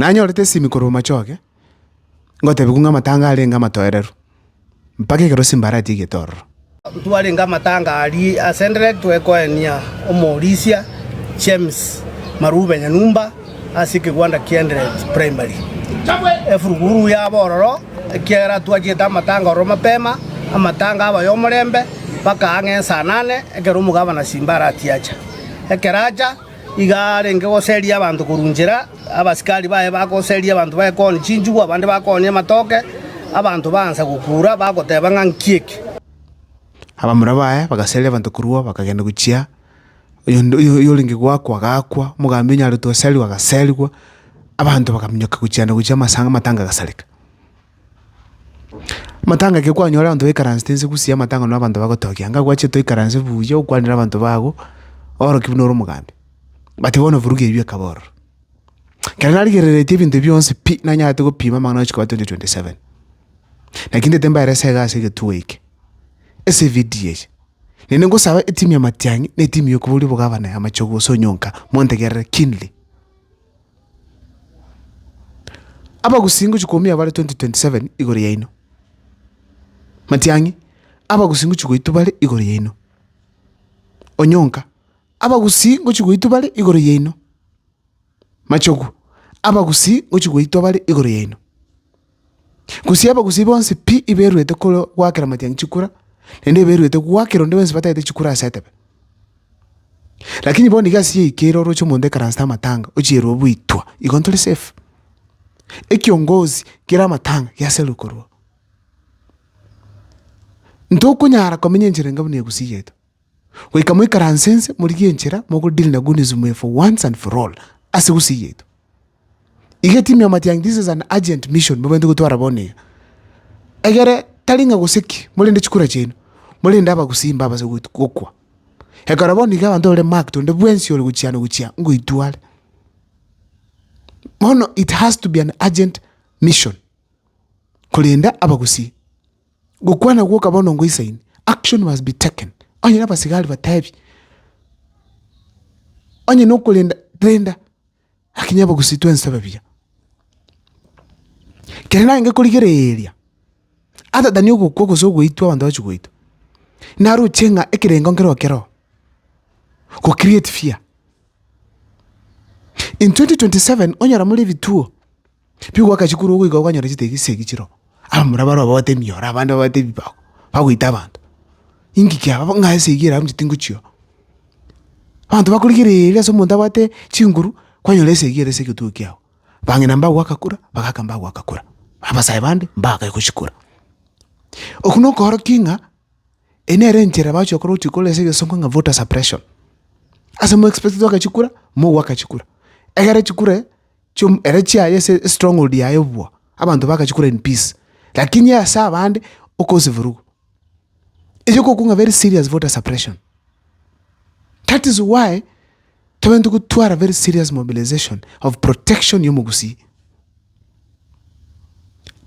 Nanyorete esimi korwa omochoge, ngotebiwu ng'a amatanga arenge amatoereru, mpaka ekero Simba aratigetie ororo. Ntwarenge amatanga aria ase Ndirect goekoenia omorisia James Marube Nyanumba ase ekegwanda kia Ndirect Primary. Efuruguru yaba ororo ekiagera twachiete amatanga ororo mapema, amatanga aba y'omorembe mpaka ang'e ensa nane ekero omogabana Simba aratiacha. Ekero acha, Iga arenge goseria abanto korwa inchera, abasikari baye bagoseria abanto baye koonia chinchugu, abande bakoonia amatoke. Abanto baansa gokuura, bagoteba ng'a nki eke? Abamura baye bagaseria abanto korwa, bakagenda gochia oyonde oyorenge goakwa agakwa, omogambi onyaretwe goseriwa agaserigwa, abanto bakaminyoka gochia na gochia amasanga amatanga agasareka. Amatanga ekero kwanyora abanto baikaransete inse gusii amatang'ani na abanto bagotokia, ng'a gwache toikaranse buya okwanere abanto bago, oroki buna ore omogambi. But bono eburugi eyio bwekaba ororo. Ekero narigereretie ebinto ebio bionsi pi, nanyarete gopima amang'ana ochiko ya twenty twenty seven, naki ntaete mbare ase egasi egetuo eke, ase evidio eye. Naende ngosaba etimu ya matiang'i, na etimu ya okoboria obogavana ya amache gose onyonka, montegerere keenly. Abagusi ngochia koumia bare 2027 igoro yaino, matiang'i, abagusi ngochia goitwa bare igoro yaino, onyonka, abagusi ngochia goitwa bare igoro yaino, machogu, abagusi ngochia goitwa bare igoro yaino. Gose abagusii bonsi pi iberuete goakera amatiangi chikura, naende eberuete goakera onde bwensi batagete chikura ase etebe. Lakini bono iga ase yaikire oroche omonto ekaransete amatanga, ochierwe oboitwa, igo ntori safe. Ekiongozi kere amatanga giaserire korwa oo. Ntokonyara komenya enchera enga buna egusii yaito. Goika moikaranse inse, morigie enchera mogo deal na good news mweefwa once and for all ase gusii yaito. Iga etimu ya Matiang'i this is an urgent mission mobante gotwara bono iga. Egere tari ng'a gose ki, morende chikura chiaino, morende abagusii mbabase goit gokwa. Ekero bono iga abanto bare marked onde bwensi ore gochia ano gochia ngoitware. Bono it has to be an urgent mission korenda abagusii. Gokwana gwoka bono ngoisaini, action must be taken, onye nabasigari batebi, onye nokorenda renda, aki nyabogosi twense babuya. Kere nagenge korigereria, other than ogokwa gose ogoitwa abanto bachia goitwa, naroche ng'a ekerengo nkere o kere oo, go create fear. In 2027 onyora more ebituo. Pi ogwaka chikuru ogoika okanyora chitagi chisegi chiroo, abamura baroo babwate emioro, abande babwate ebibago, bagoita abanto. Inki kiaba bo ng'a esegi ere abuchete ngochio. Abanto bakorigereria ase omonto abwate chinguru, kwanyora esegi ere ase egetogo kiago. Bang'ina mbagwaka kura, bagaka mbagwaka kura, abasae bande mbagae gochikora. Okwo na okoorokia ng'a eye nere enchera bagochi gokora ogochi kore ase egesongo ng'a voter suppression. Ase mo expect gwaka chikura, mogwaka chikura. Egere chikure. chiom, ere chiaye ase estronghold yaye bwa, abanto bagachia kora in peace, lakini ase abande okosi vurugu. Erio okokwa ng'a very serious voter suppression. That is why tobwenerete gotwara very serious mobilization of protection ya omogusii.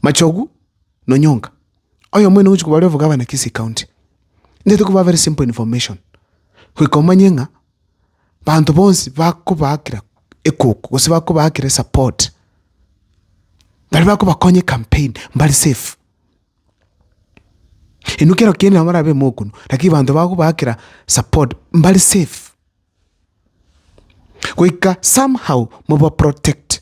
Machogu na Onyonga, oyomwene ogochia kobarwa obogavana Kisii county, nigo tokobaha very simple information, goika omanye ng'a. Banto bonsi bakobaakera ekoko gose bakobaakera esapport, baria bakobakonya ecampaign mbare safe. Inwe kero kende nabo barabe mokonu lakini banto bakobaakera support mbare safe, goika somehow mobaprotect.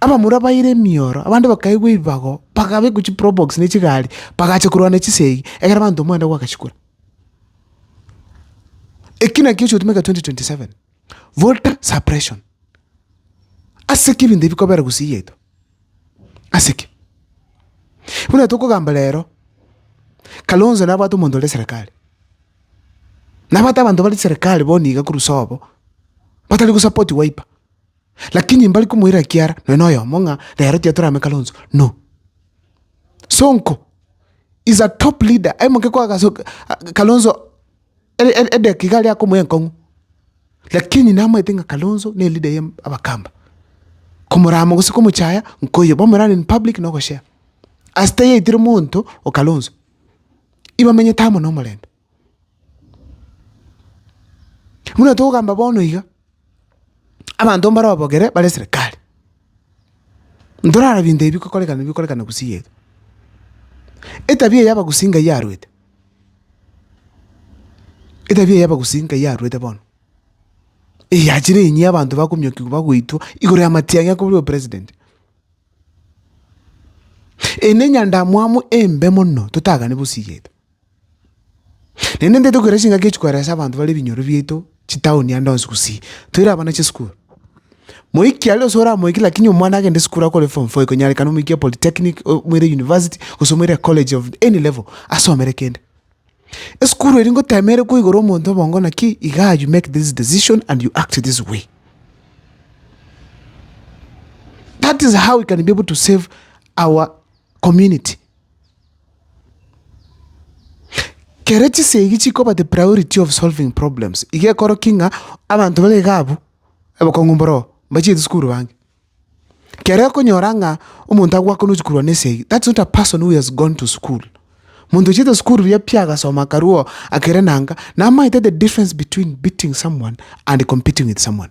Abamura baira emioro, abande bakaigwa ebibago, bakabekwa chiprobox ne chigari, bagacha korwana chisegi, egere abanto omwanda gwakachikora. Eki naki ekigotumeka 2027, voter suppression. Ase ki ebinto ebi bikobera gusii yaito? Ase ki? Buna tokogamba rero, Kalonzo nabwate omonto ore serekari, nabwate abanto bare serekari bono iga korwa sobo, batari gosapoti Wiper. Lakini mbari komoira ekiara nonya noyomo ng'a rero tiga torame Kalonzo, no. Sonko is a top leader, aye moke kwa gaso Kalonzo ere ere edageka iga aria akomoa enkong'u, lakini namaete ng'a Kalonzo ne leader ya abakamba, komorama gose komochaya nkoiyo bamorane in public na ogoshare. Ase tayaitire monto o Kalonzo, ibamenyete amo na omorembe. Buna togokamba bono iga, abanto mbare babogere bare serikali, ntorara binto ebi bikokorekana ebi bikokorekana Gusii yetu. Etabia eyi abagusii ngai arwete, etabia eyi abagusii ngai arwete bono, eyachire enyia abanto bakominyokiwa bagoitwa igoro y'amatiang'i ya korwa president. Eye nenyandamwamu embe mono totagani Gusii yetu. Naende intwe tokoira chingaki echi koeresa abanto bare ebinyoro biaito chitaoni ande onsi gosii toire abana chisukuru. Moiki aria gose oramoike lakini omwana agende sukuru akore form four ikonyarekana omoikie polytechnic omoire university gose omoire college of any level asomere kende. Esukuru eria ngotema ere koigora omonto obongo naki igaa you make this decision and you act this way. That is how we can be able to save our community. Kere chinsa egi chikoba the priority of solving problems, iga ekorokia ng'a abanto babe iga abwo, obokong'u mboroo, mbachiete sukuru bange. Kere okonyora ng'a omonto agoaka nochi korwa na esegi, that's not a person who has gone to school. Monto ochiete sukuru buya pi agasoma akarua oo akere nanga, namaete the difference between beating someone and competing with someone.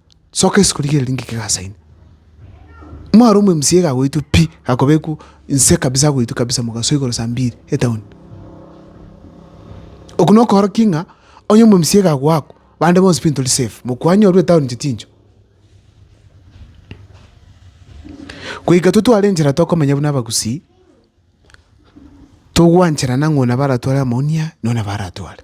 Soka ase korigereria ng'iki gasaine. Mware omo mca gagoitwa pi, gakobekwa nse kabisa agoitwa kabisa mogasoa igoro saa mbiri etown. Oko nokoorokia ng'a onye omo mca gagoakwa, bande bonsi pi ntori safe, mokwanywa orure etown inche tinchwe. Goika intwe tware enchera tokomenya buna abagusii, togwancherana ng'a oyo nabo aratware amaonia na oyo nabo aratware.